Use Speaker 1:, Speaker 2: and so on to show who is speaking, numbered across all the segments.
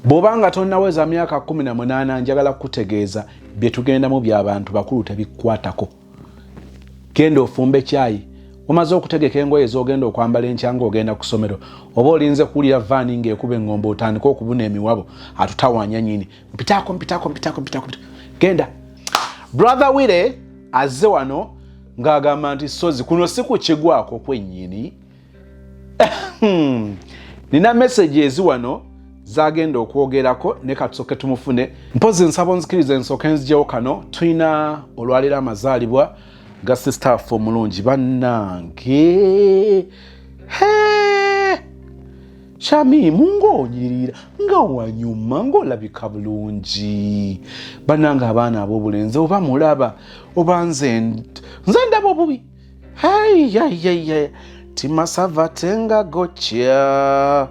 Speaker 1: Bw'oba nga tonnaweza myaka kumi na munaana njagala kukutegeeza bye tugendamu by'abantu bakulu tebikukwatako. Genda ofumbe kyayi omaze okutegeka engoye z'ogenda okwambala enkya ng'ogenda ku ssomero oba olinze kuwulira vaani ng'ekuba eng'ombe otandika okubuna emiwabo atutawaanya nyini mpitaako mpitaako mpitaako mpitaako genda brother wire azze wano ng'agamba nti sozi kuno si kukigwako kwennyini Hmm. nina meseji ezi wano zagenda okwogerako ne katusoke tumufune mpozi nsaba onzikiriza ensooke nzijewo kano tulina olwaleero amazaalibwa ga sisitaafu omulungi bannange shamimu ngaonyirira nga wanyuma ngaolabika bulungi bannange abaana ab'obulenzi oba mulaba oba nze nze ndaba obubi haiyaiyaia timasava tenga gocha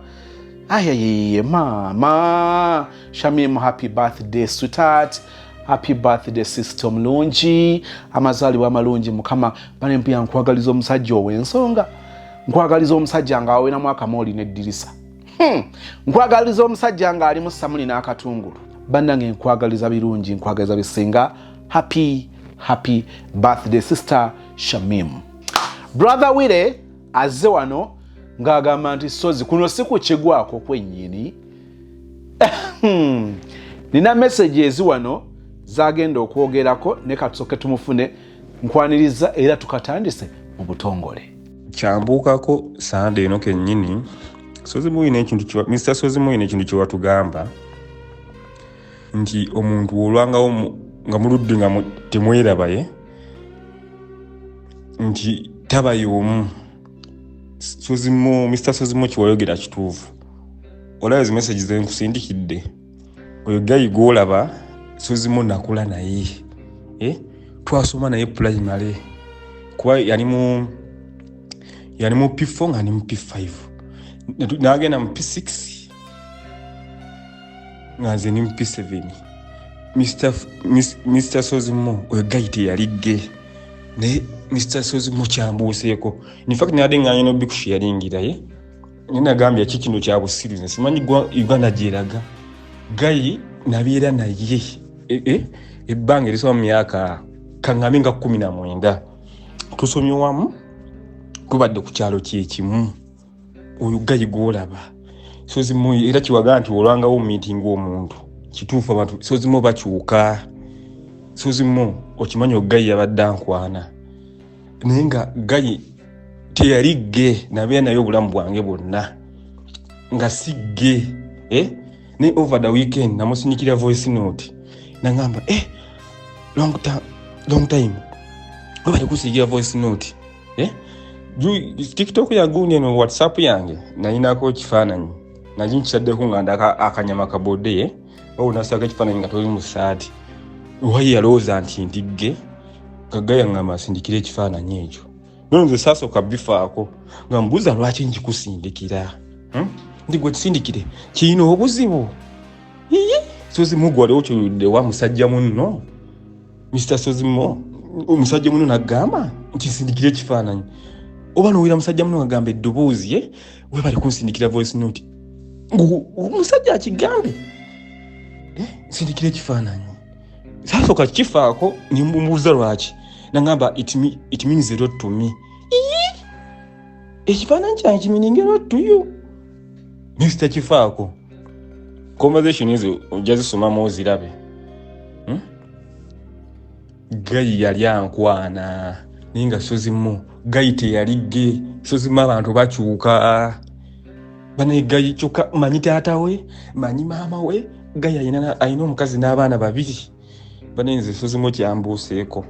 Speaker 1: ayayeye mama shamim happy birthday sweetheart happy birthday sister omulungi amazaalibwa amalungi mukama banempuya nkwagaliza omusajja owensonga nkwagaliza omusajja nga awawena mwaka mooli neddirisa Hmm. nkwagaliza omusajja nga alimu samuli n'akatungulu bannange nkwagaliza birungi nkwagaliza bisinga happy happy birthday sister shamim brother wire azze wano ng'agamba nti sozi kuno si kukigwako kwennyini hmm. nina messages wano zagenda okwogerako ne katusoke tumufune nkwaniriza era tukatandise mu butongole kyambuukako
Speaker 2: sanda eno kennyini mr sozimuyina ekintu kyewatugamba nti omuntu wolwangawo nga muludde nga temwerabaye nti taba yomu mr sozimo kyewayogera kituufu olaba zi message zenkusindikidde oyo gayi gwolaba suzimu nakula naye eh? twasoma naye primary kuba yali mu yali mu p4 nga ni mu p5 nagenda mu p6 nga nze ni mu p7 mr, Miss, mr sozimo oyo gayi teyali ge naye mr sozimo kyambuuseeko infact nade nganyina obikushi yalingira ye eh? naye nagambye ki kino kyabusiruzi simanyi uganda gyeraga gayi nabeera naye e, e, ebbanga erisoba mu myaka kaŋame nga kumi na mwenda tusomye wamu tubadde ku kyalo kyekimu oyo gayi gwolaba sozimu era kiwaga nti olwangawo omumiitinga omuntu kituufu abantu sozimu bakyuka sozimu okimanyi ogayi yabadde ankwana naye nga gayi teyali ge nabeera naye obulamu bwange bwonna nga si ge eh? naye over the weekend namusinyikira voice note nagamba eh, long, long time obali kusinyikira voice note eh? tiktok yagundi eno whatsapp yange nayinako ekifaananyi naye nkitaddeko nga ndaka akanyama kabodeye oba onasaako ekifaananyi nga toli mu saati wayi yalowooza nti ndigge kagga yaŋŋamba asindikira ekifaananyi ekyo nono nze saasooka bifaako nga mubuuza lwaki njikusindikira hmm? ndi gwe kisindikire kirina obuzibu iye sozi mugu waliwo kyoludde wa musajja munno mr sozi mo omusajja munno nagamba nti sindikira ekifaananyi oba nowira musajja munno agamba eddoboozi ye eh? webale kunsindikira voice note omusajja akigambe eh, nsindikira ekifaananyi sasooka kifaako nembuuza lwaki nagamba it means a lot to me ekifaananyi kyange kimininga a lot to you mista kifaako conversation ezo ojja zisomamu ozirabe gayi yali ankwana naye nga sozimu gayi teyali ge sozimu abantu bakyuka banaye gayi kyokka manyi taata we manyi maama we gayi alina omukazi n'abaana babiri banaye nze sozimu kyambuuseeko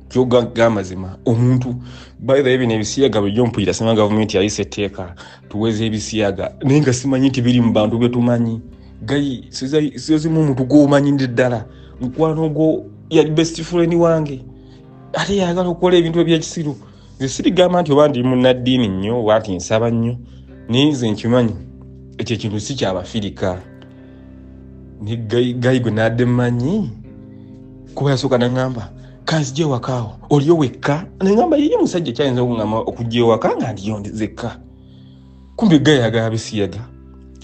Speaker 2: kyogaga amazima omuntu bythe bino ebisiyaga bulijjo mpulira sima gavumenti yayisa etteeka tuweza ebisiyaga naye nga simanyi nti biri mu bantu betumanyi gayi zezimu omuntu gwomanyinde ddala mukwano ogwo yali best friend wange ate yagala okukola ebintu ebyekisiru nze sirigamba nti oba ndi munaddiini nnyo oba nti nsaba nnyo naye nze nkimanyi ekyo ekintu si kyabafirika ne gayi gwe nadde mmanyi kuba yasooka naŋamba kanzija ewakaawo oliyo wekka naŋamba yiye musajja kyayinza okugamba okujja ewaka nga ndiyo nzekka kumbi gayaga abisiyaga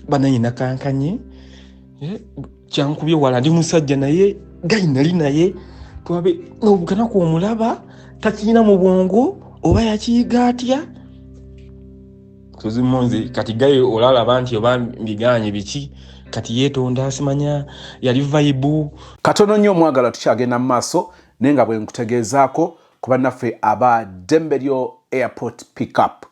Speaker 2: banaye nakankanye eh, kyankubye wala ndi musajja naye gayi nali naye twabe nobukanaku omulaba takirina mu bwongo oba yakiyiga atya tuzimunzi kati gayi olalaba nti oba mbiganye biki kati yetonda asimanya yali vaibu katono nnyo omwagala
Speaker 1: tukyagenda mu maaso naye nga bwenkutegeezaako ku bannaffe aba ddembe lyo airport pickup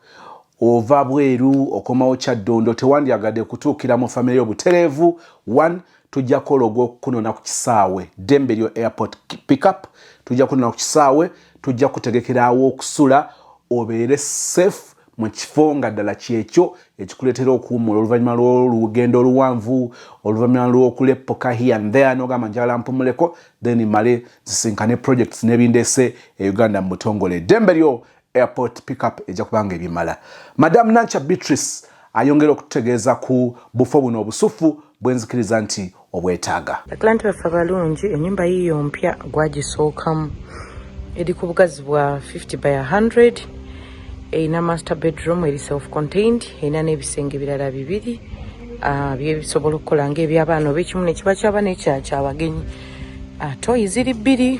Speaker 1: ova bweru okomawo kyaddondo tewandyagadde kutuukira mu famire yo butereevu 1 tujja kukola ogw'okukunona ku kisaawe ddembe lyo airport pickup tujja kunona ku kisaawe tujja kutegekerawo okusula obeere safe mu kifo nga ddala kyekyo ekikuleetera okuwummula oluvannyuma lw'olugendo oluwanvu oluvannyuma lw'okuleppoka here and there n'ogamba njagala mpumuleko then male zisinkane projects n'ebindeese e uganda mu butongole eddembe lyo airport pickup ejja kubanga ebimala madamu nanca beatrice ayongera okututegeeza ku bufo buno obusuffu bwenzikiriza nti obwetaaga. Bakilanti baffe
Speaker 3: abalungi enyumba yiyo mpya gwagisookamu eri ku bugazi bwa 50 by 100 erina master bedroom eri self contained erina n'ebisenge birala bibiri ah, byebisobola okukola ngaebyabaana oba ekimu nekiba kyaba nekyakyabagenyi ah, toyi ziri bbiri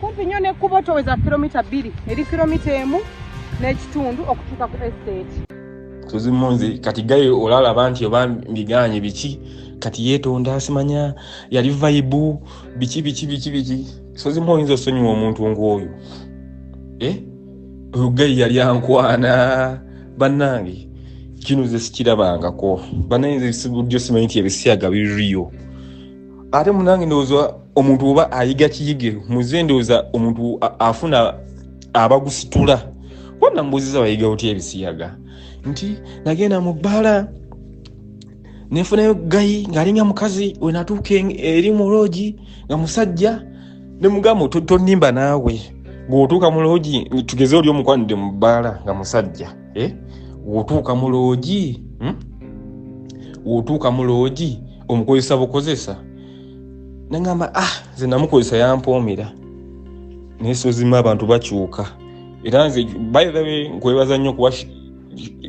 Speaker 3: kumpi nnyo n'ekkubo toweza kilomita bbiri eri kilomita emu n'ekitundu okutuuka ku estate tuzimunzi
Speaker 2: kati gaye olalaba nti oba mbiganye biki kati yetonda simanya yali vaibu biki biki biki biki sozimu oyinza osonyiwa omuntu ngaoyo eh? oyo gayi yali ankwana banange kino ze sikirabangako banange budyo simanyi nti ebisiyaga biriyo ate munange ndowooza omuntu oba ayiga kiyige muze ndowooza omuntu afuna abagusitula wabula mbuuziza bayiga otya ebisiyaga nti nagenda mu bbaala nenfunayo gayi ng'alinga mukazi wenatuuka eri mu loogi nga musajja ne mugamba tonimba naawe gweotuuka mu loogi tugeze oli omukwanidde mu bbaala nga musajja eh? wotuuka mu loogi hmm? wotuuka mu loogi omukozesa bukozesa nengamba ah nze namukozesa yampoomera naye sozima abantu bakyuka era nze by the way nkwebaza nnyo kuba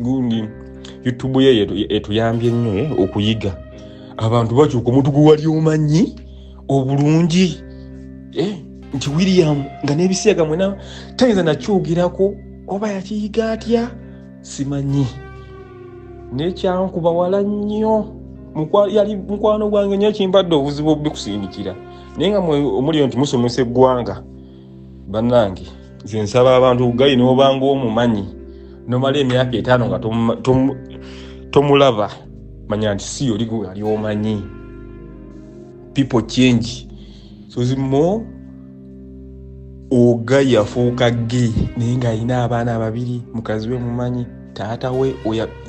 Speaker 2: gundi youtube ye etuyambye nnyo eh, okuyiga abantu bakyuka omuntu gwe wali omanyi obulungi eh, nti william nga nebisiyaga mwena tayinza nakyogirako oba yakiyiga atya simanyi nekyankuba wala nnyo yali mukwano gwange nyo kimpadde obuzibu obubikusindikira naye nga omulio nti musomesa eggwanga bannange nze nsaba abantu gali nobanga omumanyi nomala emyaka etaano nga tomulaba manya nti si yoli gwali omanyi people change suzi mo oga yafuuka ge naye ng'alina abaana babiri mukazi we mumanyi taata we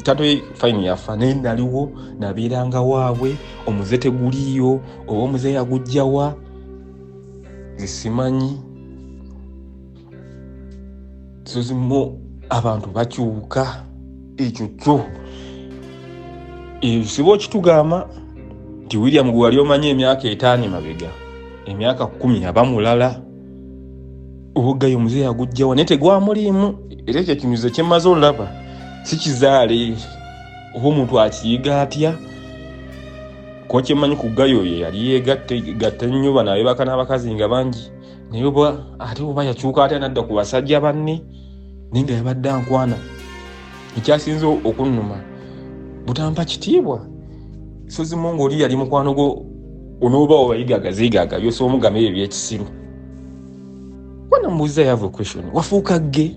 Speaker 2: taata we fayini yafa naye naliwo nabeeranga waabwe omuze teguliiyo oba omuze yagujjawa zisimanyi zizimu abantu bakyuka ekyo kyo ekizibu okitugamba nti william gwe wali omanya emyaka etaano emabega emyaka kumi aba mulala obuggayo omuze yagujjawa naye tegwamuliimu era ekyo kimuze kyemaze olaba si kizaale oba omuntu akiyiga atya kuba kyemmanyi ku gayo ye yali yeegatta nnyo banaabebaka n'abakazi nga bangi naye oba ate oba yakyuka atya nadda ku basajja banne naye nga yabadde ankwana ekyasinze okunnuma butampa kitiibwa sozimu ngaoli yali mukwano gwo onooba obayigaga zigaga yosa omugama ebyo ebyekisiru wana mubuuza yava equestion wafuuka gge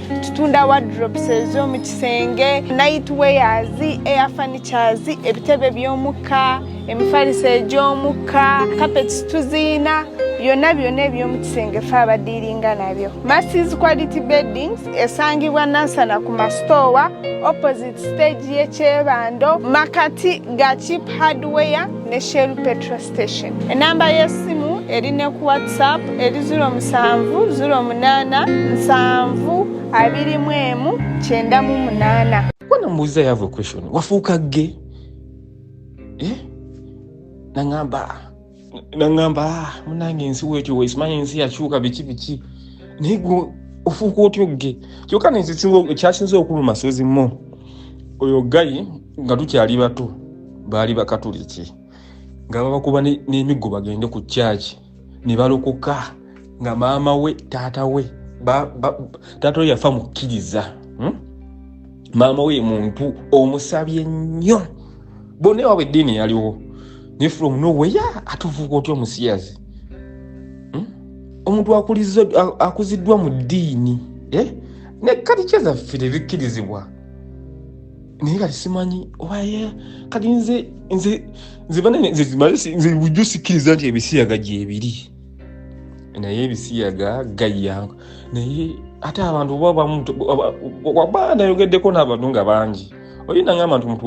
Speaker 4: tutunda wardrobes ez'omu kisenge night wears air furnitures ebitebe by'omukka emifaliso egy'omukka kapeti tuziina byonna byonna eby'omu kisenge fe abadiiringa nabyo masis quality beddings esangibwa nansana ku masitoowa opposite stage y'ekyebando makati ga chip hardware ne Shell Petrol Station. Enamba y'essimu eri ne ku WhatsApp eri 0770872998. Kuna mubuuza
Speaker 2: you have a question. Wafuuka gge? Eh? Nangamba nangamba ah, munange ensi wekyo wesimanyi ensi yakyuka biki biki naye gwe ofuuka otya ogge kyokka nekyasinza okuluma sozi mo oyo gayi nga tukyali bato baali bakatuliki nga babakuba n'emiggo bagende ku kyaki ne balokoka nga maama we taata we taata we yafa mukkiriza hmm? maama we muntu omusabye nnyo bonna ewabwe eddiini yaliwo ne from noweya atuvuuka otya omusiyazi hmm? omuntu akuziddwa mu ddiini eh? ne kalikyezaffe tebikkirizibwa naye kati simanyi obaye kati nze nze nze banene nze zimale nze bujjo sikiriza nti ebisiyaga gyebiri naye ebisiyaga gayya naye ate abantu oba bamu waba nayogeddeko n'abantu nga bangi oyina ngamba nti omuntu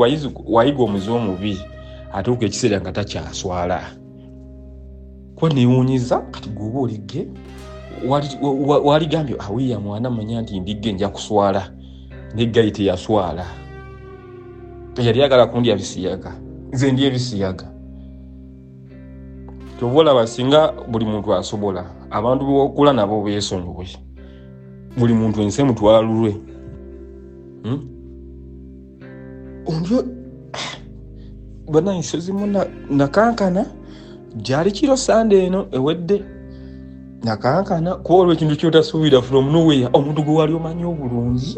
Speaker 2: wayiga omuze omubi atuuka ekiseera nga takyaswala kuba newunyiza kati gwoba oligge waligambye awiya mwana manya nti ndigge nja kuswala neggayi teyaswala yali agala kundya bisiyaga nze ndi ebisiyaga kyova olaba singa buli muntu asobola abantu bokula nabo besonyiwe buli muntu ensi emutwalulwe hmm? ombyo banansi zimu nakankana gyali kiro sande eno ewedde nakankana kuba olwo ekintu kyotasuubira from nowhere omuntu gwe wali omanyi obulungi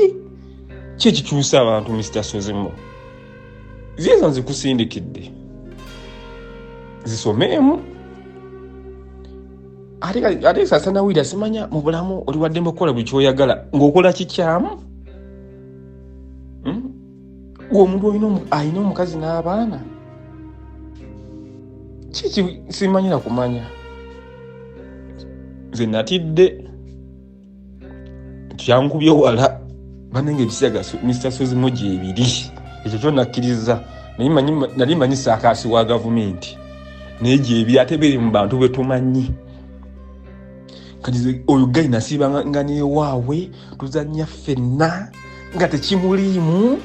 Speaker 2: ki ekikyusa abantu mr sozimu ziizo nzikusindikidde zisomeemu ate sasanawulira simanya mu bulamu oliwaddemu okukola buli kyoyagala ng'okola kikyamu hmm? omuntu alina omukazi n'abaana kiki simanyira kumanya nze natidde kyankubye wala banenge ebisiyaga mr sozimo gyebiri ekyo kyo nakkiriza nali manyi saakaasi wa gavumenti naye gyebiri ate biri mu bantu bwetumanyi kati oyo gayi nasiiba nga newaawe tuzanya ffenna nga tekimuliimu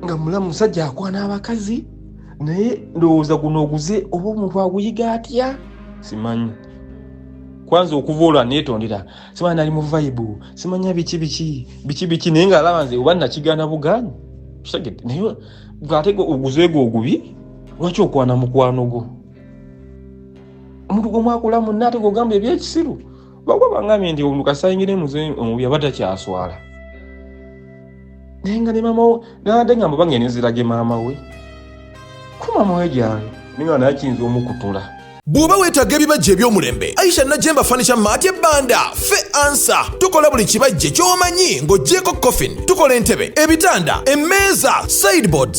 Speaker 2: nga mulamu musajja akwana abakazi naye ndowooza guno oguze oba omuntu aguyiga atya simanyi kwanza okuva olwa netondera simanyi nali mu vaibu simanya biki biki biki biki naye ngaalaba nze oba nakigana buganyi kitegete naye gwategwa oguzeegwo ogubi lwaki okwana mukwano gwo omuntu gwemwakula munna ate gwogamba ebyekisiru bakuba bangambye nti omuntu kasayingire muze omubi aba takyaswala naye nga ne maama nade ngamba bange nezirage maama we ku maama we gyali ninga naye kiyinza omukutula bw'oba weetaaga
Speaker 5: ebibajje eby'omulembe aisha najemba fanisha maati ebbanda fe ansa tukola buli kibajje ky'omanyi ng'ogyeko coffin tukola entebe ebitanda emmeeza sideboards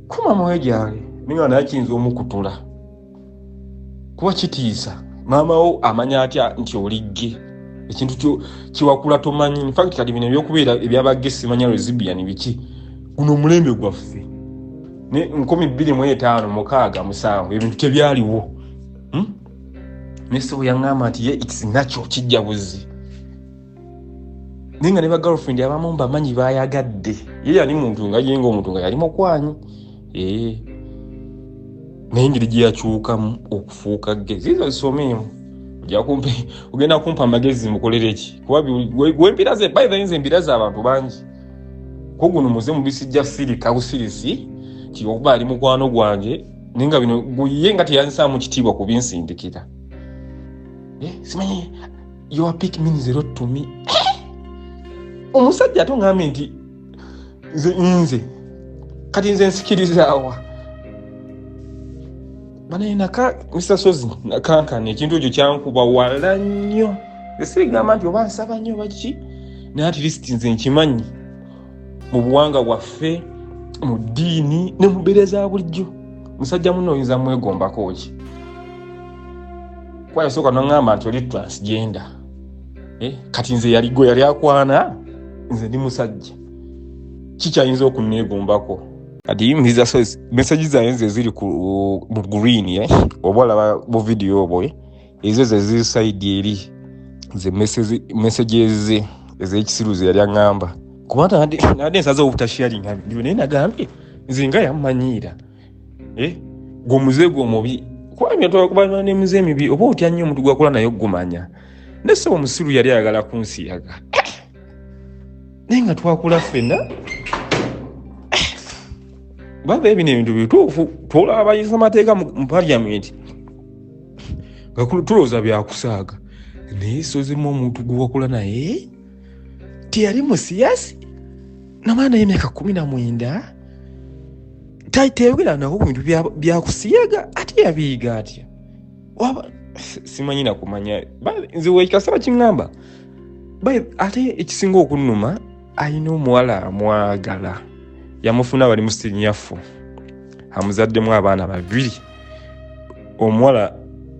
Speaker 2: kuma mwoyo gyange naye nga naye kiyinza omukutula kuba kitiisa maama wo amanya atya nti oligge ekintu kiwakula tomanyi infact kati bino ebyokubeera ebyabagge simanya resibian biki guno omulembe gwaffe ne nkumi bbiri mu etaano mukaaga musanvu ebintu tebyaliwo hmm? nesebo yaŋŋamba nti ye its natural kijja buzzi naye nga ne bagirlfriend abamu mbamanyi bayagadde ye yali muntu nga yenga omuntu nga yali mukwanyi ee naye engeri gye yakyukamu okufuuka ge ziizo zisomeemu ojakumpe ogenda kumpa amagezi mukolere ki kuba wempira ze by then zembira zabantu bangi koguno muze mubisijja sirika busirisi ti okuba ali mukwano gwange naye nga bino guye nga teyanzisaamu kitiibwa kubinsindikira eh, simanyi your pick means a lot to me omusajja ate ongambye nti nze nze kati nze nsikirizaawa banaye naka mr sozi nakankana ekintu ekyo kyankuba wala nnyo esirigamba nti oba nsaba nnyo baki naye ati lisiti nze nkimanyi mu buwanga bwaffe mu ddiini ne mubeera za bulijjo musajja muno oyinza mwegombako ki kuba yasooka nongamba nti oli transgender eh, kati nze yali gwe yali akwana nze ndi musajja kikyayinza okunneegumbako kati mbiza so mesaji zaye nze ziri ku mu green eh? oba olaba bu vidiyo obwo eh? ezo ze ziri saidi eri nze mesaji eze ez'ekisiru ze yali aŋŋamba kuba nade nsaza obutasharinga byo naye nagambye nze nga yammanyiira eh? gwe omuze gwe omubi kubanga twakubalana ne muze emibi oba otya nnyo omuntu gwakola naye ogumanya naye sebo omusiru yali ayagala kunsiyaga naye nga twakula ffenna baba ebino ebintu bituufu twolaba abayisa amateeka mu paliamenti nga tulowooza byakusaaga naye sozimu omuntu gwewakula naye teyali musiyasi namwana naye emyaka kumi na mwenda tayogera nabo bintu byakusiyaga ate yabiyiga atya simanyi nakumanya nze wekikasaba kiŋamba ate ekisinga okunuma alina omuwala amwagala yamufuna bali musinyafu amuzaddemu abaana babiri omuwala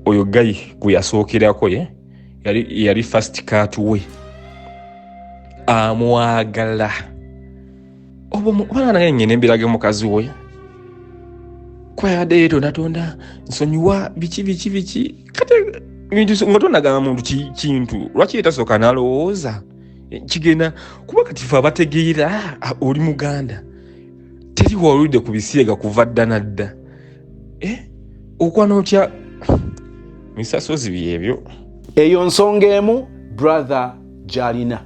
Speaker 2: oyo gayi gwe yasookerako ye yali, yali fast cat we amwagala obaana nyina embiraga mukazi we kwayadde yeto natonda nsonyiwa biki biki biki kati bintu nga tonagamba muntu kintu lwaki yetasooka nalowooza kigenda kuba kati fe abategeera oli muganda teri wawulidde ku bisiyaga kuva dda na dda eh? okwana otya misasozi byebyo eyo nsonga
Speaker 1: emu brother gyalina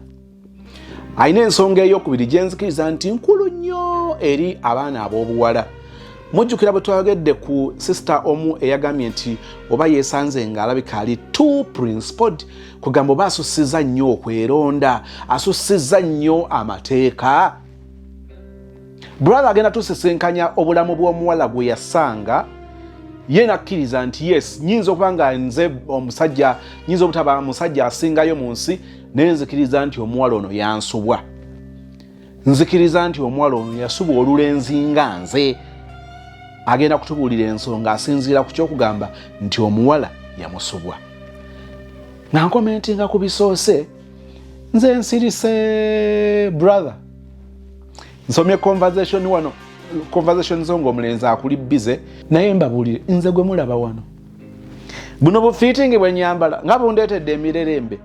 Speaker 1: alina ensonga eyokubiri gyenzikiriza nti nkulu nnyo eri abaana ab'obuwala mujjukira bwe twayogedde ku sisita omu eyagambye nti oba yesanze nga alabika ali t principled kugamba oba asusiza nnyo okweronda asusiza nnyo amateeka brother agenda tusisinkanya obulamu bw'omuwala gwe yasanga ye nakkiriza nti yes nyinza okuba nga nze omusajja nyinza obutaba musajja asingayo mu nsi naye nzikiriza nti omuwala ono yansubwa nzikiriza nti omuwala ono yasubwa olulenzi nga nze agenda kutubuulira ensonga asinziira ku kyokugamba nti omuwala yamusubwa nga nkomentinga ku bisoose nze nsirise brother nsomye conversation wano conversation zo ngaomulenzi akuli bize naye mbabulire nze gwe mulaba wano buno bufitingi bwenyambala nga bundeetedde emirerembe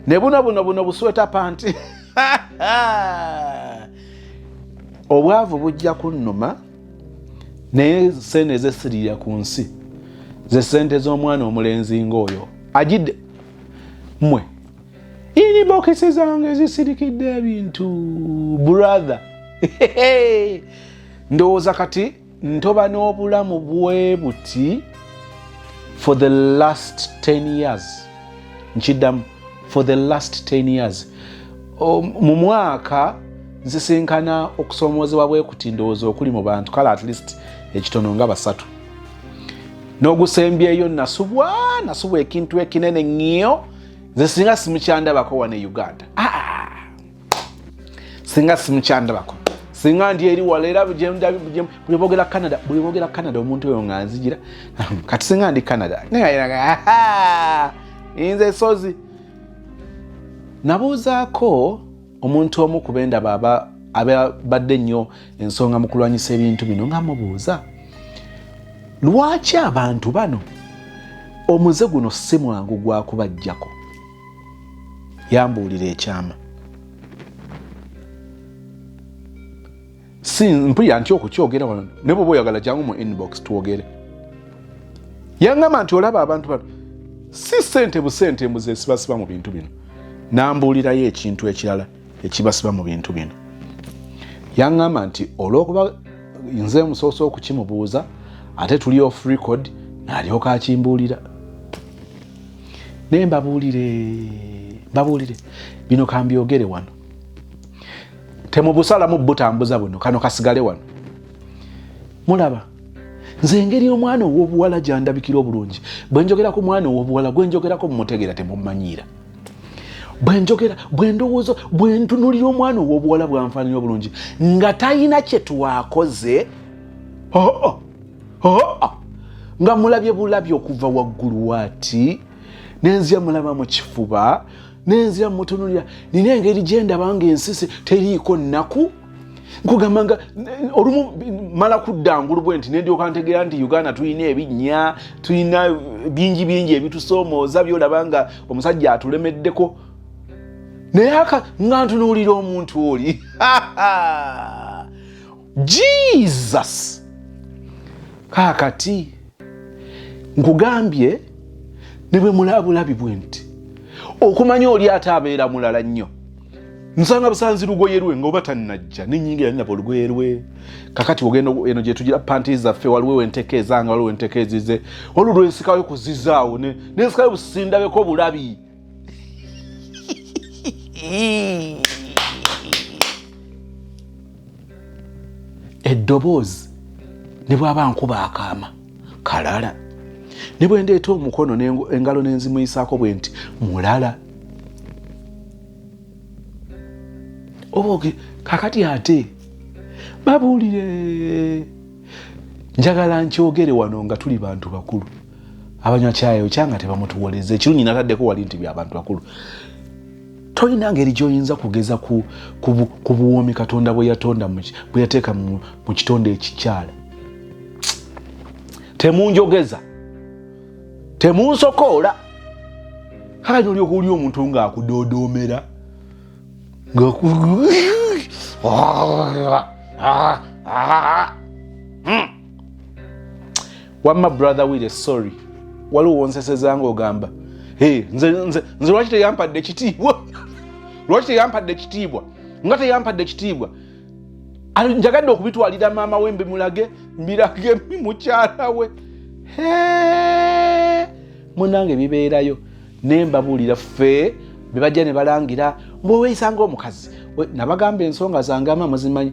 Speaker 1: ne buno buno buno busweta panti obwavu bujja kunnuma naye sente ezesirira ku nsi zesente z'omwana omulenzi ngaoyo ajidde mwe inibokisi zange zisirikidde ebintu brother ndowooza kati ntoba n'obulamu bwe buti for the last 10 years nkiddamu for the last 10 years mu mwaka nsisinkana okusoomoozebwa bwe kuti ndowooza okuli mu bantu kale at least ekitono nga basatu n'ogusembyeyo nasubwa nasubwa ekintu ekinene ŋŋio nze singa simukyandabako wana e uganda ah! singa simukyandabako singa ndi eri wala era bwebogera canada bwebogera canada omuntu oyo nga nzijira kati singa ndi canada nze sozi nabuuzaako omuntu omu ku bendaba aba abadde nnyo ensonga mu kulwanyisa ebintu bino nga mubuuza lwaki abantu bano omuze guno si mwangu gwakubajjako yambuulira ekyama si mpulira nti okukyogera wano ne bwoba oyagala jangu mu inbox twogere yangamba nti olaba abantu bano si sente busente mbu zesibasiba mu bintu bino nambuulirayo ekintu ekirala ekibasiba mu bintu bino yangamba nti olwokuba nze musoose okukimubuuza ate tuli off record nalyoka akimbuulira naye mbabuulire mbabuulire bino kambyogere wano temubusalamu butambuza buno kano kasigale wano mulaba nze engeri omwana owobuwala gyandabikira obulungi bwenjogera ku mwana owobuwala gwenjogerako mumutegeera temumanyiira bwenjogera bwendowooza bwentunulira omwana owobuwala bwanfaanira obulungi nga talina kyetwakoze oh, oh, oh, nga mulabye bulabye okuva waggulu waati nenzia mulaba mu kifuba nenzira mutunulira nina engeri gyendaba nga ensisi teriiko nnaku nkugamba nga olumu mala kudda ngulu bwe nti nendyoka ntegeera nti uganda tulina ebinnya tulina bingi bingi ebitusoomooza byolaba nga omusajja atulemeddeko naye aka nga ntunuulira omuntu oli jesus kakati nkugambye ne bwe mulabulabi bwe nti okumanya oli ate abeera mulala nnyo nsanga busanzi lugoye lwe ngaoba tanajja nenyingira ninaba olugoye lwe kakati ogenda eno gyetugira panti zaffe waliwo wenteka ezanga waliwo wenteka ezize waliwo lwensikayo kuzizaawo nensikayo busindabeko bulabi eddoboozi ne bwaba nkuba akaama kalala ne bwe ndeeta omukono engalo nenzimuyisaako bwe nti mulala oboge kakati ate babuulire njagala nkyogere wano nga tuli bantu bakulu abanywa kyayi okya nga tebamutuwoleza ekirungi nataddeko wali nti byabantu bakulu tolina ngeri gyoyinza kugeza ku buwoomi katonda bweyatonda bweyateeka mu kitonde ekikyala temunjogeza temunsokoola kale nolyoka oli omuntu ngaakudodoomera nga wamma brother wire sorry waliwo wonseseza nga ogamba hey, nze, nze, nze lwaki teyampadde ekitiibwa lwaki teyampadde ekitiibwa nga teyampadde ekitiibwa njagadde okubitwalira maama we mbimulage mbirage mukyala we munange bibeerayo ne mbabuulira ffe bebajja ne balangira mbu oweeyisanga omukazi nabagamba ensonga zange ama muzimanyi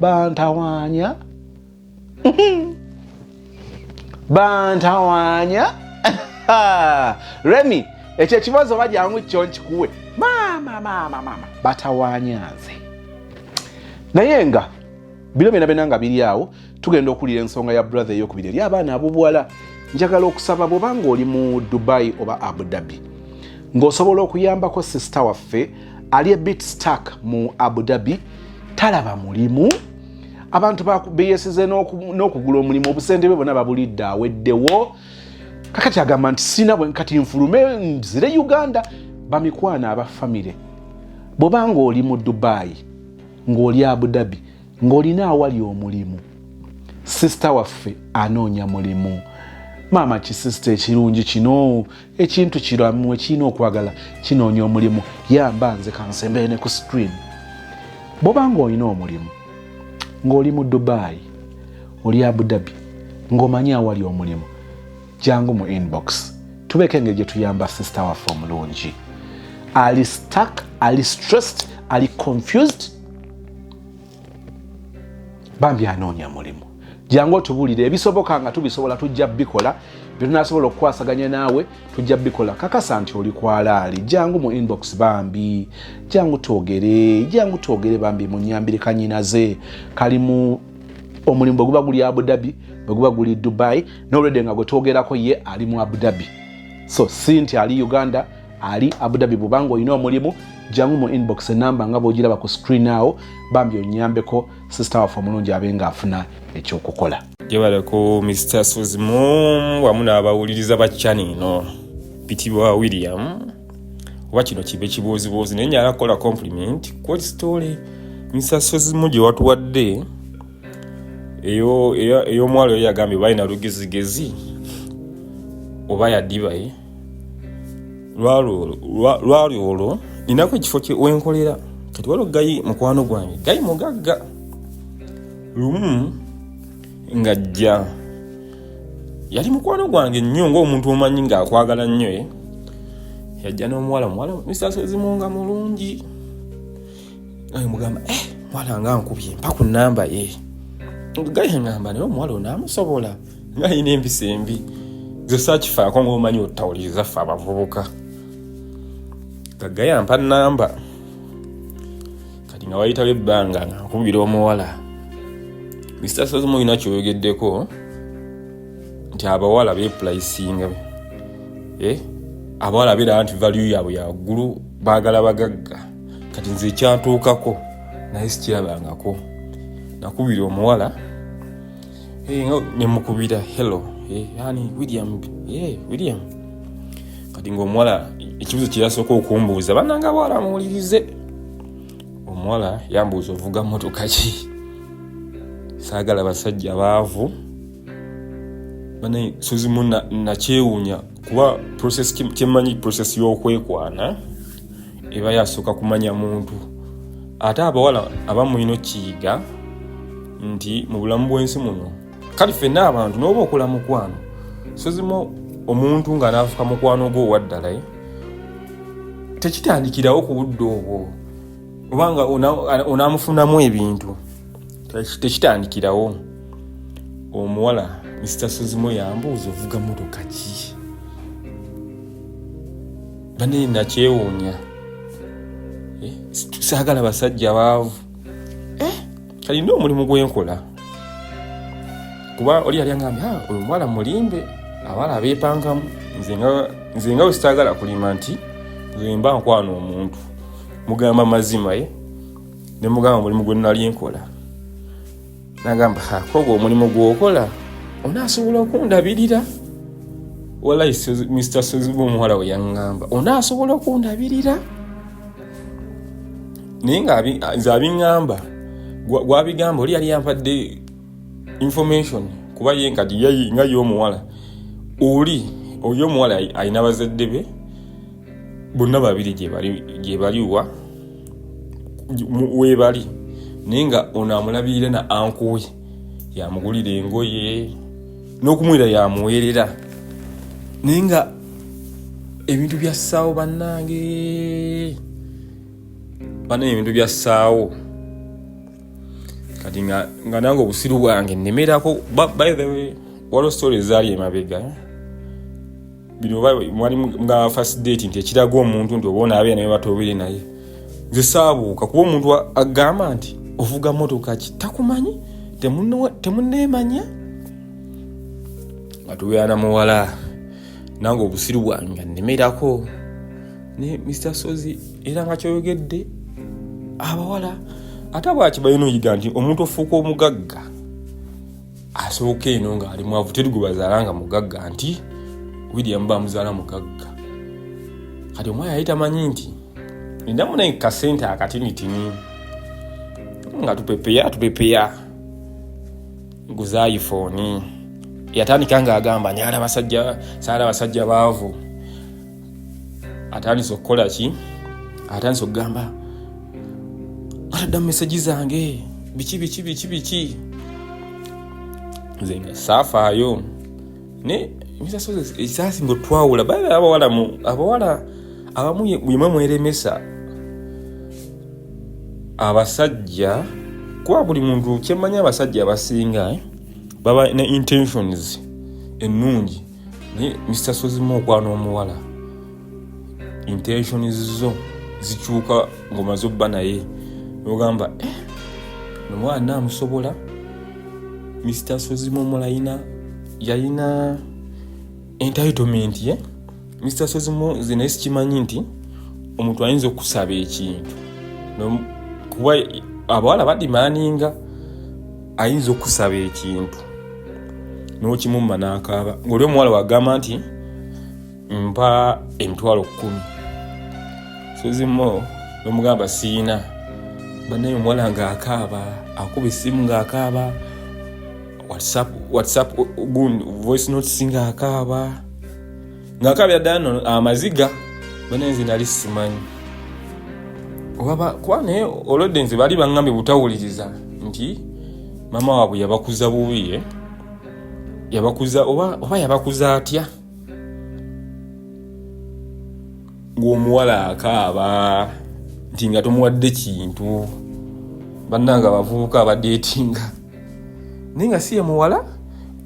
Speaker 1: bantawaanya bantawaanya remi ekyo ekibazo oba jangu kyo nkikuwe maama maama maama batawaanya nze naye nga bino byona byona nga biri awo tugenda okuwulira ensonga ya brother eyokubiri eri abaana abobuwala njagala okusaba bwoba ngaoli mu dubai oba abu dhabi ngaosobola okuyambako sisita waffe ali a bit stuck mu abu dhabi talaba mulimu abantu beyesize n'okugula omulimu obusente bwe bona babulidde aweddewo kakati agamba nti sina bwe kati nfulume nzire uganda bamikwana aba famire bwoba ng'oli mu dubayi ng'oli abu dhabi ng'olina awali omulimu sisita waffe anoonya mulimu maama kisisita ekirungi kino ekintu kiramu ekirina okwagala kinoonya omulimu yamba nze kansembere ne ku screen bwoba nga olina omulimu ng'oli mu dubayi oli abudabi ng'omanyi awali omulimu jangu mu inbox tubeeko engeri gye tuyamba sisita waffe omulungi ali stak ali stressed ali confused bambi anoonya mulimu jangu otubulire ebisoboka nga tubisobola tujja bikola byetunasobola okukwasaganya naawe tujja bikola kakasa nti oli kwalaali jangu mu inbox bambi jangu twogere jangu twogere bambi munyambire kanyinaze kali mu omulimu bweguba guli abudabi bweguba guli dubai nolwedde nga gwetwogerako ye ali mu abudabi so si nti ali uganda ali abudabi bubanga olina omulimu jangu mu inbox enamba nga bwogiraba ku screen awo bambi onyambeko sisita waffe omulungi abe nga afuna ekyokukola jebale ku
Speaker 2: mr suzimum wamu n'abawuliriza ba chani ino bitibwa william oba kino kibe kibuuzibuuzi naye nyala kukola compliment kwoli story mr suzimum gye watuwadde ey'omwalo eyo yagambye balina lugezigezi oba yadibaye lwali olwo ninako ekifo wenkolera kati waliwo gayi mukwano gwange gayi mugagga lumu ngajja yali mukwano gwange nnyo ngaomuntu omanyi ngaakwagala nnyo eh? yajja n'omuwala muwala misaso ezimu nga mulungi naye mugamba eh, mwana nga nkubye mpa ku namba ye gaye ngamba naye omuwala onaamusobola nga alina empisa embi ze sakifaako ngaomanyi otawuliriza ffe abavubuka kagaya mpa namba kati nga wayitawo ebbanga nga nkubira omuwala mr sazimu olina kyoyogeddeko nti abawala bepulayisinga eh? abawala beera nti valiyu yaabwe yaggulu baagala bagagga kati nze ekyantuukako naye sikirabangako nakubira omuwala eh, nemukubira hello eh, ani william eh, william kati ngaomuwala ekibuzo kyeyasooka okumbuuza bananga bwala muwulirize omuwala yambuuza ovuga motoka ki saagala basajja baavu banaye sozimu nakyewuunya kuba process kyemanyi process y'okwekwana eba yasooka kumanya muntu ate abawala abamulina okiyiga nti mu bulamu bw'ensi muno kale fenna abantu nooba okola mukwano sozimu omuntu nga naafuka mukwano gwo owaddala eh? tekitandikirawo ku budde obwo obanga onaamufunamu ebintu tekitandikirawo omuwala mr sozimu yambuuza ovuga motoka ki bane nakyewuunya eh, saagala basajja baavu eh, kalina omulimu gwenkola kuba oli yali aŋambye ah, oyo omuwala mulimbe abala abeepangamu nze nga wesitaagala kulima nti zemba nkwana omuntu mugamba mazima ye eh? nemugamba mulimu gwenali enkola nagamba kogwo omulimu gwokola onaasobola okundabirira walayi mr soziba omuwala we yaŋŋamba onaasobola okundabirira naye nga nze abiŋŋamba gwabigamba oli yali yampadde information kuba ye nkati nga ye omuwala oli oyo omuwala alina bazadde be bonna babiri gyebaliwa webali naye nga ono amulabirira na ankuwe yamugulira engoye n'okumwera yamuweerera naye nga ebintu byassaawo bannange banaye ebintu byassaawo kati nga nange obusiru bwange nemerako waliwo story ezaali emabega eh? bino oba mwali nga first date nti ekiraga omuntu nti oba onaabeera naye batobeere naye nze saabuuka kuba omuntu agamba nti ovuga motoka ki takumanyi temuneemanya nga tubeera na muwala nange obusiru bwange nga nnemerako naye mr sozi era nga kyoyogedde abawala ate bwaki balina oyiga nti omuntu ofuuka omugagga asooka eno ng'ali mwavu teri gwebazaala nga mugagga nti william bamuzaala mugagga kati omwana yali tamanyi nti endamu naye kasente akatinitini nga tupepeya tupepeya guzayifoni yatandika ng'agamba nyala basajja saala basajja baavu atandise okukola ki atandise okugamba ataddamu mesegi zange biki biki biki biki nze nga saafaayo ne ekisaasi nga otwawula baa abawala abawala abamu yemwe mweremesa abasajja kuba buli muntu kyemmanyi abasajja abasinga eh, baba ne intentions ennungi naye mr sozimu okwana omuwala intentions zo zikyuka ngomaze obba naye nogamba eh, nomwana amusobola mr sozimu omulayina yalina entitlement ye eh? mr sozimu nze naye sikimanyi nti omuntu ayinza okusaba ekintu kuba abawala badimaninga ayinza okusaba ekintu n'okimumma n'akaaba ng'oli omuwala wagamba nti mpa emitwalo kkumi sozimu nomugamba siina banaye omuwala ng'akaaba akuba essimu ng'akaaba whatsapp whatsapp gun voice notes ng'akaaba ngakabira ddala no amaziga bana nze nali simanyi kuba naye olwedde nze bali baŋambye butawuliriza nti mama waabwe yabakuza bubi eh? yabakuza oba, oba yabakuza atya ng'omuwala akaaba nti nga tomuwadde kintu bannanga abavubuka abadeetinga naye nga si ye muwala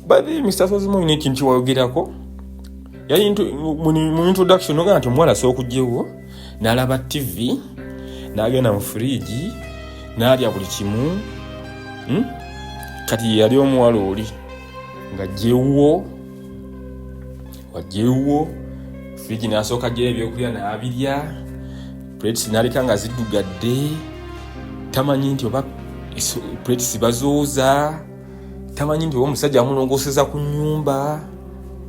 Speaker 2: bali mr sozimu olina ekintu kyewayogerako yali mu introduction ogamba nti omuwala asobola okugyewo n'alaba ttivi n'agenda mu furiigi n'alya buli kimu hmm? kati yeyali omuwala oli nga gyewuwo wagyewuwo furiigi n'asooka gyeyo ebyokulya n'abirya plates naleka nga ziddugadde tamanyi nti oba plates bazooza tamanyi nti oba omusajja amulongoseza ku nyumba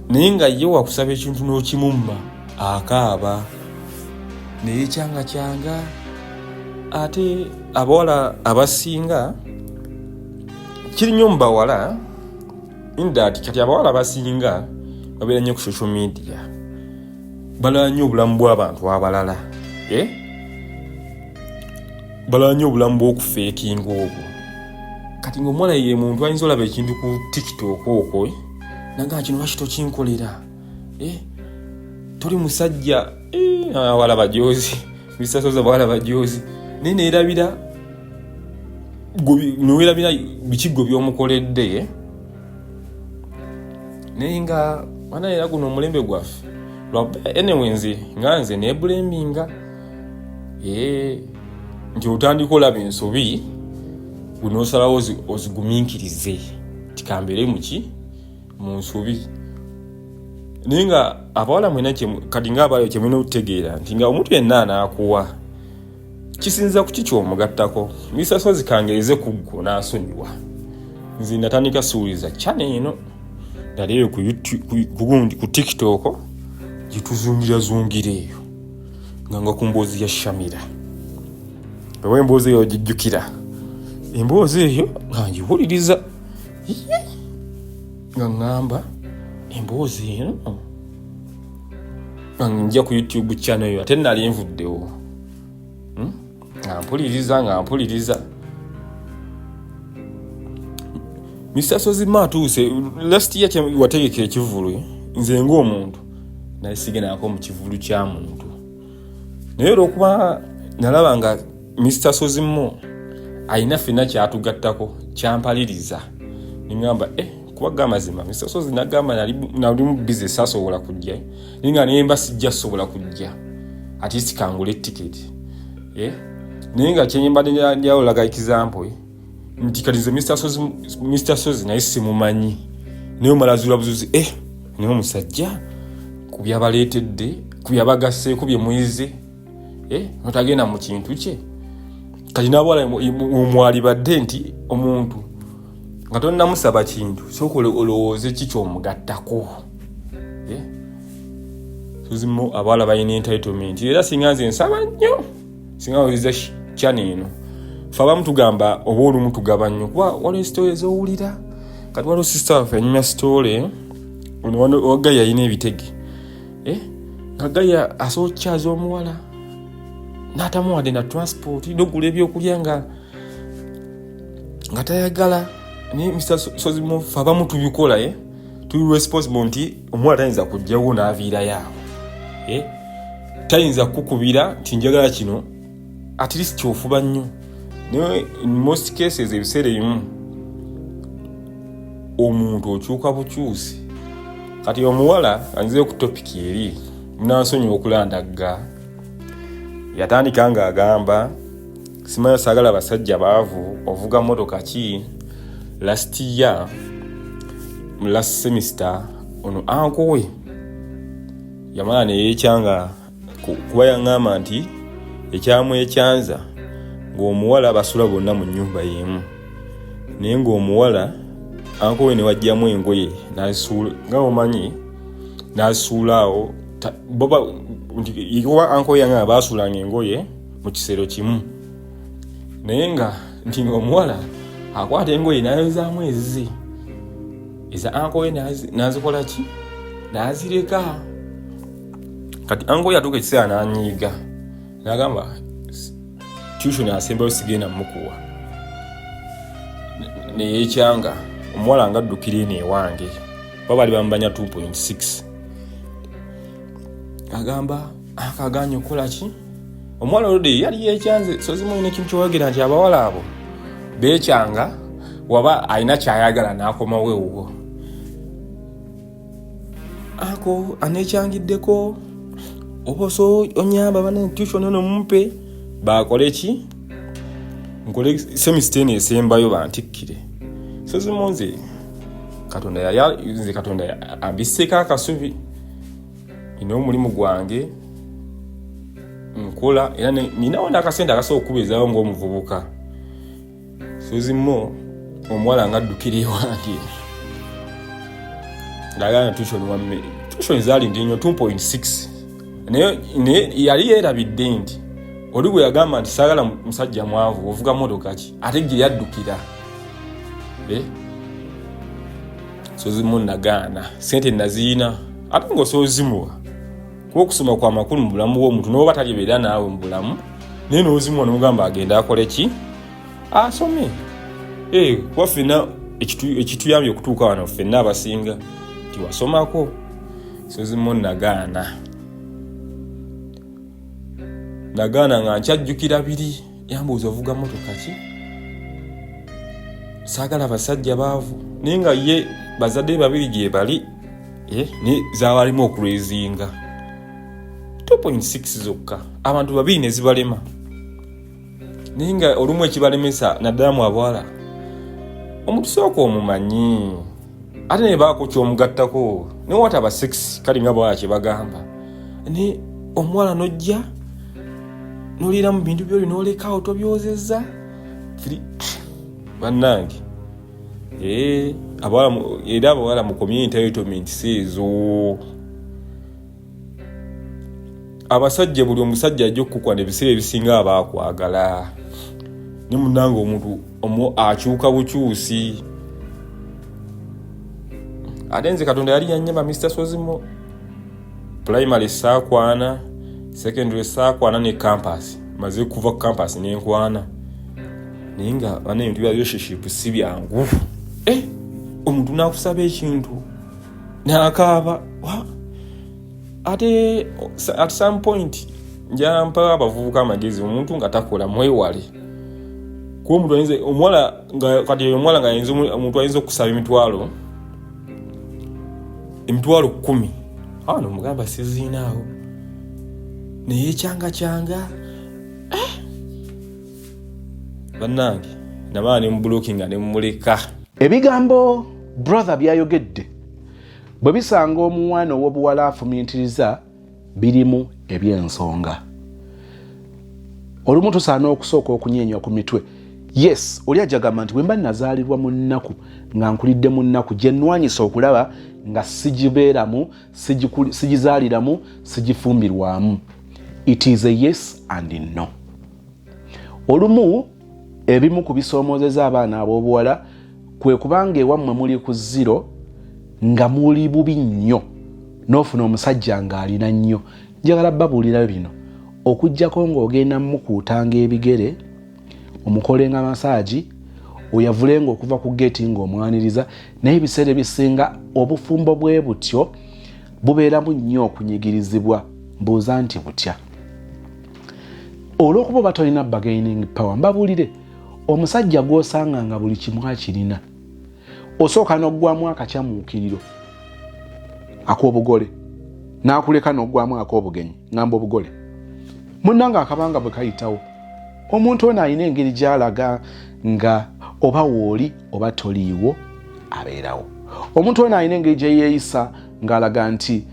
Speaker 2: naye nga ye wakusaba ekintu n'okimumma akaaba naye kyanga kyanga ate abawala abasinga kiri nnyo mu bawala indat kati abawala abasinga babeera nnyo ku social media balala nnyo obulamu bw'abantu abalala eh? balala nnyo obulamu bw'okufeekinga obwo kati ngaomuwala ye muntu ayinza olaba ekintu ku tiktok okwo eh? nagaa kino lwaki tokinkolera eh? toli musajja awala ah, bajozi bisasoza bawala bajozi naye neerabira newerabira bikiggo byomukoledde naye nga mana era guno omulembe gwaffe anyway nze nga nze nebulembinga eh, nti otandika olaba ensobi gunosalawo oziguminkirize tikambeere muki mu nsobi naye nga abawala mwena kati nga abalayo kyemulina okutegeera nti nga omuntu yenna anaakuwa kisinza kuki kyomugattako misa sozi kangereze ku ggwo n'asonyiwa nze natandika siwuliza chana eno nali eyo kugundi ku tiktok gyetuzungira zungira eyo nga nga ku mboozi ya shamira oba emboozi eyo gijjukira emboozi eyo nga ngiwuliriza nga ŋŋamba emboozi eno nja ku youtube channel yo ate nali nvuddewo hmm? nga mpuliriza nga mpuliriza mr sozima atuuse last year wategeka ekivulu nze ngaomuntu nali sigendaako mu kivulu kya muntu naye olwokuba nalaba nga Mr Sozimo alina fena kyatugattako kyampaliriza nengamba eh, kubaga amazima Mr Sozi nagamba nalimu bize sasobola kujja ninga nemba sijja sobola kujja atisi kangula etiketi eh? naye nga kyenyembadde njawolaga example eh? nti kati nze Mr Sozi naye simumanyi naye omalazuula buzuzi eh, naye omusajja kubyabaleetedde kubyabagasseeko byemuyize eh, notagenda mu kintu kye kati nabwala omwalibadde nti omuntu nga tonamusaba kintu soka olowooze ki kyomugattako eh? tuzimu abawala balina entitlement era singa nze nsaba nnyo singa oiza kyana eno fe abamu tugamba oba olumu tugaba nnyo kuba waliwo sitole ezowulira kati waliwo sisita waffe anyumya sitole wagga yalina ebitege eh? nga gaya asobola okukyaza omuwala natamuwadde na transport nogula ebyokulya nga nga tayagala naye mr sozimufe abamu tubikola eh? tuli responsible nti omuwala tayinza kujjawo naviirayo awo eh? tayinza kukubira nti njagala kino at least kyofuba nnyo naye in most cases ebiseera ebimu omuntu okyuka bukyusi kati omuwala anyize ku topic eri munansonyiwa okulandagga yatandika nga agamba simanya sagala basajja baavu ovuga motoka ki last year last semester ono ankowe yamala neyekyanga kuba yaŋŋamba nti ekyamwekyanza ng'omuwala basula bonna mu nnyumba y'emu naye ng'omuwala ankowe ne wajjamu engoye nazisuula nga omanyi nazisuula awo boba nti ikuba ankowe yange baasuulanga engoye mu kisero kimu naye nga nti ng'omuwala akwata engoye nayozaamu ezize eza ankowe nazikola ki nazireka kati ango yatuuka ekiseera nanyiiga nagamba tution asembayo sigenda mukuwa neyekyanga omuwala nga addukira eno ewange ba bali bambanya 2.6 agamba akaganya okukolaki omuwala olode yali yekyanze sozimuyina ekintu kyoyogera nti abawala abo bekyanga waba alina kyayagala nakomawo ewuwo ako anekyangiddeko oba oso onyamba bana intution ono mumpe bakole ki nkole semista eno esembayo bantikkire so zimu nze katonda yayanze katonda ambisseeko akasubi ina omulimu gwange nkola era ninawo nakasente akasobola okukubeezawo ngaomuvubuka suzi mo omuwala nga addukira ewange ngagana tushoni wamme tushoni zaali ndi nyo 2.6 naye yali yeerabidde nti oli bwe yagamba nti saagala musajja mwavu ovuga motoka ki ate gye yaddukira eh? sozimu nagaana sente naziyina ate ngaosozimuwa kuba okusoma kwa makulu mu bulamu bw'omuntu n'oba talibeera naawe mu bulamu naye n'ozimu onomugamba agende akole ki asome eh, kuba ffenna ekituyambye okutuuka wano ffenna abasinga tiwasomako sozimu nagaana nagaana nga nkyajjukira biri yambuuza ovuga motoka ki saagala basajja baavu naye nga ye bazadde babiri gyebali eh, naye zabalimu okurezinga 2.6 zokka abantu babiri ne zibalema naye nga olumu ekibalemesa naddala mu abawala omutusooka omumanyi ate naye baako kyomugattako ne wataba sex kale nga bwala kyebagamba ne omuwala nojja noliira mu bintu byoli nolekawo tobyozeza bannange eh, era abawala mukomye entitlement seezo abasajja buli omusajja ajja okukwana ebiseera ebisinga aba akwagala ne munange omuntu omu akyuka bukyusi ate nze katonda yali yanyama mister sozimo primary saakwana secondary saakwana ne campas maze kuva ku campas nenkwana naye nga bana ebintu bya relationship si byangu eh, omuntu nakusaba ekintu nakaaba ate at some point njampa abavubuka amagezi omuntu nga takola mwewale kuba omuntu ayinza omuwala kati omuwala nga ayinza omuntu ayinza okusaba emitwalo emitwalo kumi awo nomugamba siziinaawo naye ekyanga kyanga eh! bannange nabaa ne mubulokinga ne mumuleka ebigambo
Speaker 1: brother byayogedde bwe bisanga omuwana ow'obuwala afumintiriza birimu eby'ensonga olumu tusaana okusooka okunyeenya ku mitwe yes oli ajagamba nti bwemba nazaalirwa mu nnaku nga nkulidde mu nnaku gye nnwanyisa okulaba nga sigibeeramu sigizaaliramu sigifumbirwamu it is a yes and no olumu ebimu ku bisoomozeza abaana ab'obuwala kwe kubanga ewammwe muli ku ziro nga muli bubi nnyo n'ofuna omusajja ng'alina nnyo njagala babuulira bino okugyako ng'ogenda mukuutanga ebigere omukolenga masaagi oyavulenga okuva ku geeti ng'omwaniriza naye ebiseera ebisinga obufumbo bwe butyo bubeeramu nnyo okunyigirizibwa mbuuza nti butya olwokuba oba tolina bagaining power mbabulire omusajja gwosanga nga buli kimu akirina osooka nokugwamu akakyamuukiriro akobugole nakuleka nokugwamu akobugenyi ngamba obugole munanga akabanga bwe kayitawo omuntu ono alina engeri gyalaga nga oba wooli oba toliiwo abeerawo omuntu ono alina engeri gyeyeyisa ngaalaga nti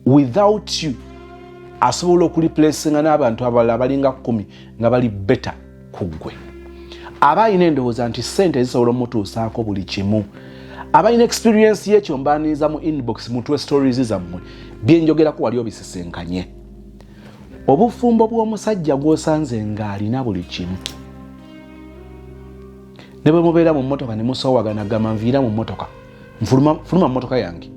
Speaker 1: without you asobola okulipulesinga n'abantu abalala abalinga kumi nga bali beta ku ggwe aba alina endowooza nti sente zisobola omutuusaako buli kimu abalina experiensi yekyo mbaniriza mu inbox mutwe stories zammwe byenjogerako wali obisisinkanye obufumbo bw'omusajja gwosanze ng'alina buli kimu ne bwe mubeera mu mmotoka ne musowagana gamba nviira mu mmotoka nfuluma fuluma mmotoka yange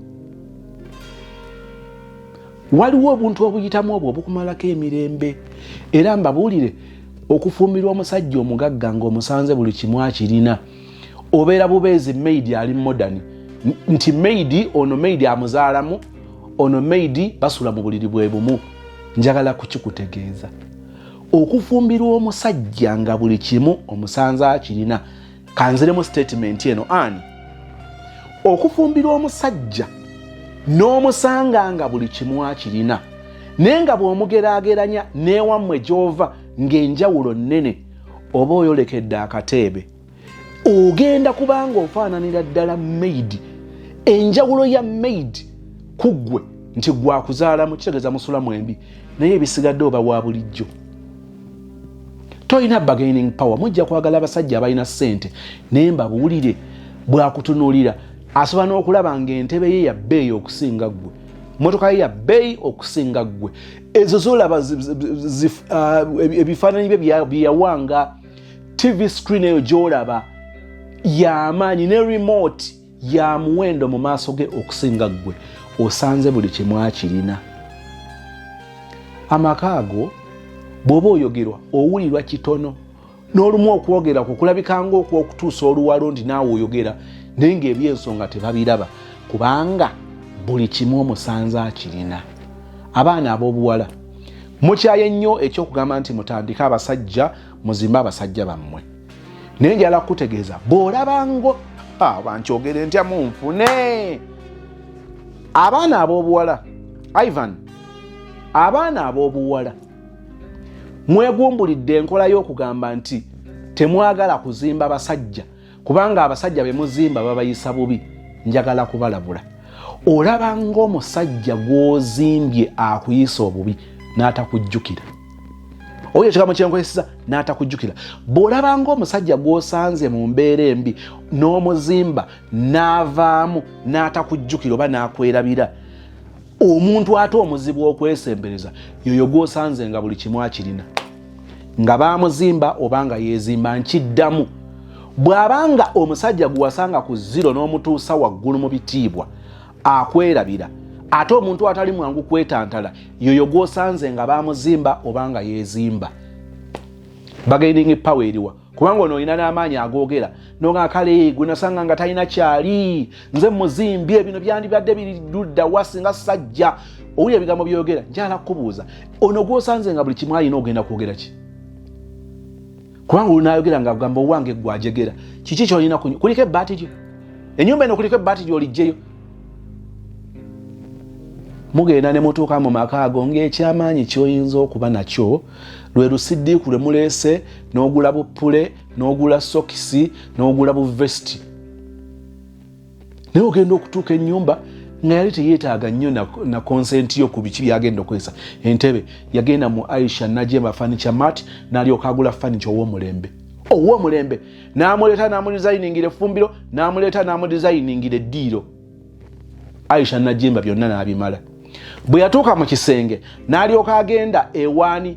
Speaker 1: waliwo obuntu obuyitamu obwo obukumalako emirembe era mbabuulire okufumbirwa omusajja omugagga ngaomusanze buli kimu akirina obeera bubeezi maidi ali modern nti maidi ono maidi amuzaalamu ono maidi basula mu buliri bwe bumu njagala kukikutegeeza okufumbirwa omusajja nga buli kimu omusanze akirina kanziremu sitatimenti eno ani okufumbirwa omusajja n'omusanga nga buli kimu akirina naye nga bw'omugeraageranya n'ewammwe gy'ova ng'enjawulo nnene oba oyolekedde akateebe ogenda kubanga ofaananira ddala maid enjawulo ya maid ku ggwe nti gwakuzaalamu kitegeeza musulamu embi naye ebisigadde oba wa bulijjo tolina bargaining power mujja kwagala abasajja abalina sente naye mbabuulire bwakutunulira asobola n'okulaba nga entebe ye yabbeeyi okusinga ggwe motoka ye yabbeeyi okusinga ggwe ezo zolaba uh, ebifaananyi bye byeyawanga tv screen eyo gyolaba yamaanyi ne remote ya muwendo mu maaso ge okusinga ggwe osanze buli kimu akirina amaka ago bw'oba oyogerwa owulirwa kitono n'olumu okwogera ku kulabikanga okwokutuusa oluwalo nti naawe oyogera naye ng'ebyensonga tebabiraba kubanga buli kimu omusanze akirina abaana ab'obuwala mukyaye nnyo ekyokugamba nti mutandike abasajja muzimbe abasajja bammwe naye njala kukutegeeza bw'olabango ah, bankyogere ntya munfune abaana ab'obuwala ivan abaana ab'obuwala mwegumbulidde enkola y'okugamba nti temwagala kuzimba basajja kubanga abasajja be muzimba babayisa bubi njagala kubalabula olaba ng'omusajja gw'ozimbye akuyisa obubi n'atakujjukira oyo ekigambo kyenkozesa n'atakujjukira bw'olabanga omusajja gw'osanze mu mbeera embi n'omuzimba n'avaamu n'atakujjukira oba n'akwerabira omuntu ate omuzibu okwesembereza yoyo gw'osanze nga buli kimu akirina nga baamuzimba oba nga yeezimba nkiddamu bw'abanga omusajja gwewasanga ku ziro n'omutuusa waggulu mu bitiibwa akwerabira ate omuntu atali mwangu kwetantala yoyo gwosanze nga bamuzimba oba nga yezimba bagaining power eriwa kubanga ono olina n'amaanyi agoogera noga kale gwenasanga nga talina kyali nze muzimbye bino byandibadde biridda wa singa sajja owuli ebigambo byogera njala kukubuuza ono gwosanze nga buli kimu alina ogenda kwogera ki kubanga olunayogera nga agamba owange gwajegera kiki kyolina kuliko ebbaati lyo enyumba eno kuliko ebbaati lyolijjeyo mugenda ne mutuuka mu maka ago ng'ekyamaanyi kyoyinza okuba nakyo lwe lusiddiiku lwe muleese n'ogula buppule n'ogula sokisi n'ogula buvesiti naye ogenda okutuuka enyumba nga yali teyetaaga nnyo na konsenti yo ku biki byagenda okozesa entebe yagenda mu aisha najemba fanicha mat nalyoka agula fanicha owomulembe owomulembe namuleeta namudizayiningira efumbiro namuleeta namudizayiningira eddiiro aisha najemba byonna nabimala bwe yatuuka mu kisenge nalyoka agenda ewaani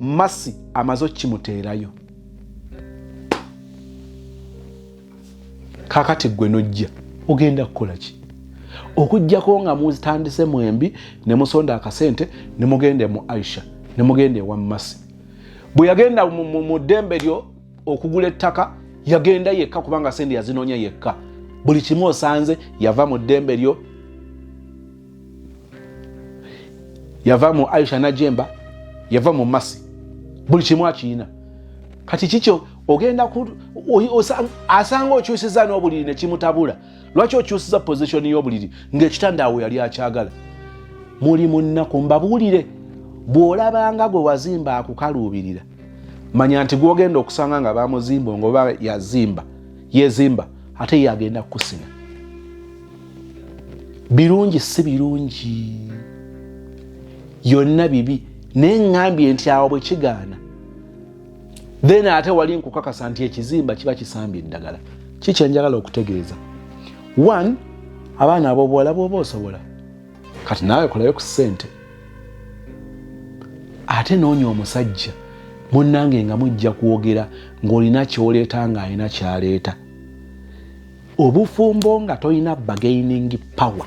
Speaker 1: masi amaze okimuteerayo kakati gwe nojja ogenda kukola ki okujjako nga muzitandise mwembi ne musonda akasente ne mugenda mu aisha ne mugenda ewa masi bwe yagenda mu ddembe lyo okugula ettaka yagenda yekka kubanga sente yazinoonya yekka buli kimu osanze yava mu ddembe lyo yava mu aisha najemba yava mu masi buli kimu akiyina kati kikyo ogenda asanga okyusiza n'obuliri nekimutabula lwaki okyusiza positioni y'obuliri ngaekitanda awo yali akyagala muli munnaku mbabuulire bw'olabanga gwe wazimba akukaluubirira manya nti gwogenda okusanga nga bamuzimba ngoba yazimba yezimba ate ye agenda kukusina birungi si birungi yonna bibi naye ŋambye nti awo bwe kigaana then ate wali nkukakasa nti ekizimba kiba kisambye eddagala kikyenjagala okutegeeza one abaana abobuwala bwoba osobola kati naawe kolayo ku ssente ate noonya omusajja munnange nga mujja kwogera ng'olina kyoleeta ng'alina kyaleeta obufumbo nga tolina bargaining power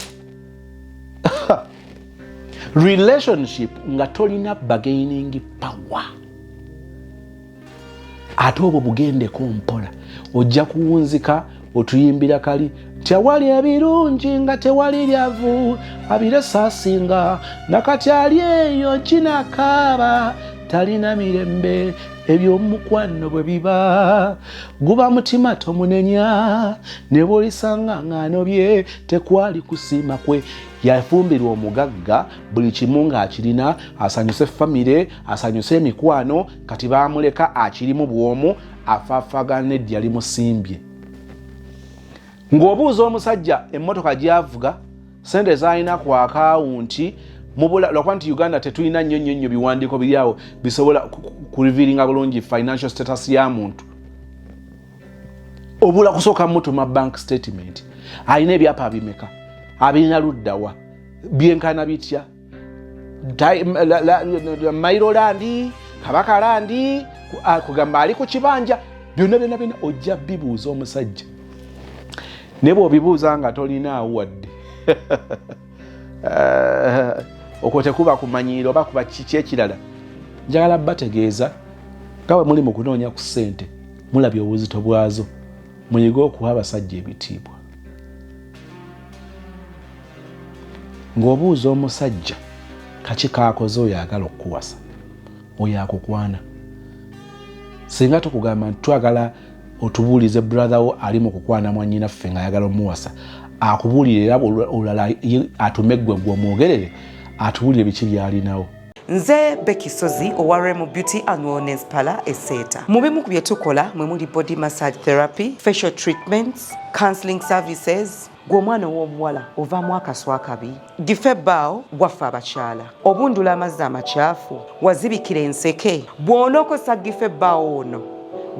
Speaker 1: relationship nga tolina bargaining power ate obwo bugendeko mpola ojja kuwunzika otuyimbira kali tewali ebirungi nga tewali lyavu abire saasinga nakati ali eyo kinakaaba talina mirembe ebyomukwano bwe biba guba mutima tomunenya ne bwolisanga ng'ano bye tekwali kusiima kwe yafumbirwa omugagga buli kimu ng'akirina asanyuse famire asanyuse emikwano kati baamuleka akirimu bw'omu afaafagana neddi yali musimbye ng'obuuza omusajja emmotoka gyavuga sente zalina ku akawunti lwakuba nti uganda tetulina nnyo nnyo nnyo biwandiiko biri awo bisobola kurevealinga bulungi financial status ya muntu obula kusooka mutuma bank statement alina ebyapa bimeka abirina luddawa byenkana bitya mairo landi kabaka landi kugamba ali ku kibanja byonna byonna byonna ojja bibuuza omusajja naye bwobibuuza nga tolinaawo wadde eh, okwo tekuba kumanyiira oba kuba kiki ekirala njagala bategeeza nga bwe muli mu kunoonya ku ssente mulabye obuzito bwazo muyige okuwa abasajja ebitiibwa ng'obuuza omusajja kaki kaakoze oyo agala okukuwasa oyo akukwana singa tukugamba nti twagala otubuulize brother wo ali mu kukwana mwanyinaffe ng'ayagala omuwasa akubuulire era olulala atume ggwe gwe omwogerere atubuulire biki byalinawo nze
Speaker 3: Becky Sozi owa Remo Beauty and Wellness Parlor eseeta mu bimu ku bye tukola mwe muli body massage therapy facial treatments counseling services gw'omwana ow'omuwala ovaamu akaswa akabi dife baawo gwaffe abakyala obundula amazzi amakyafu wazibikira enseke bw'onookozesa dife baawo ono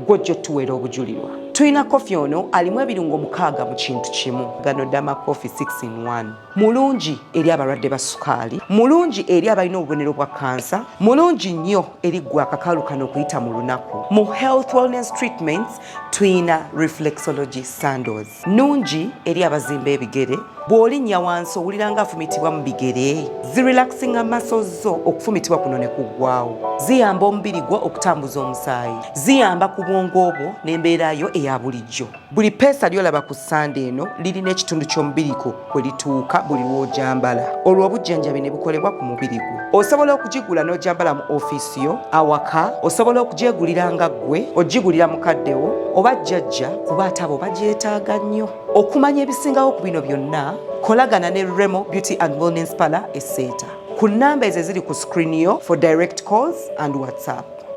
Speaker 3: gwo jjo tuweera obujulirwa tulina kofi ono alimu ebirungo mukaaga mu kintu kimu gano dama kofi 6 in 1 mulungi eri abalwadde ba sukaali mulungi eri abalina obubonero bwa kansa mulungi nnyo eri gwe akakalu kano okuyita mu lunaku mu health wellness treatments tuyina reflexology sandos nungi eri abazimba ebigere bw'olinnya wansi owulira nga afumitibwa mu bigere zirelaxinga maso zo okufumitibwa kuno ne kuggwawo ziyamba omubiri gwo okutambuza omusaayi ziyamba ku bwongo obwo n'embeera yo eya bulijjo Buli peesa lyolaba ku ssande eno lirina ekitundu ky'omubiri gwo kwe lituuka buli lw'ogyambala olwo obujjanjabi ne bukolebwa ku mubiri gwo. Osobola okugigula n'ogyambala mu ofiisi yo, awaka, osobola okugyegulira nga ggwe ogigulira mukaddewo oba jjajja kuba ate abo bagyetaaga nnyo. Okumanya ebisingawo ku bino byonna kolagana ne Remo Beauty and Wellness Parlour e Seeta ku nnamba ezo eziri ku screen yo for direct calls and WhatsApp.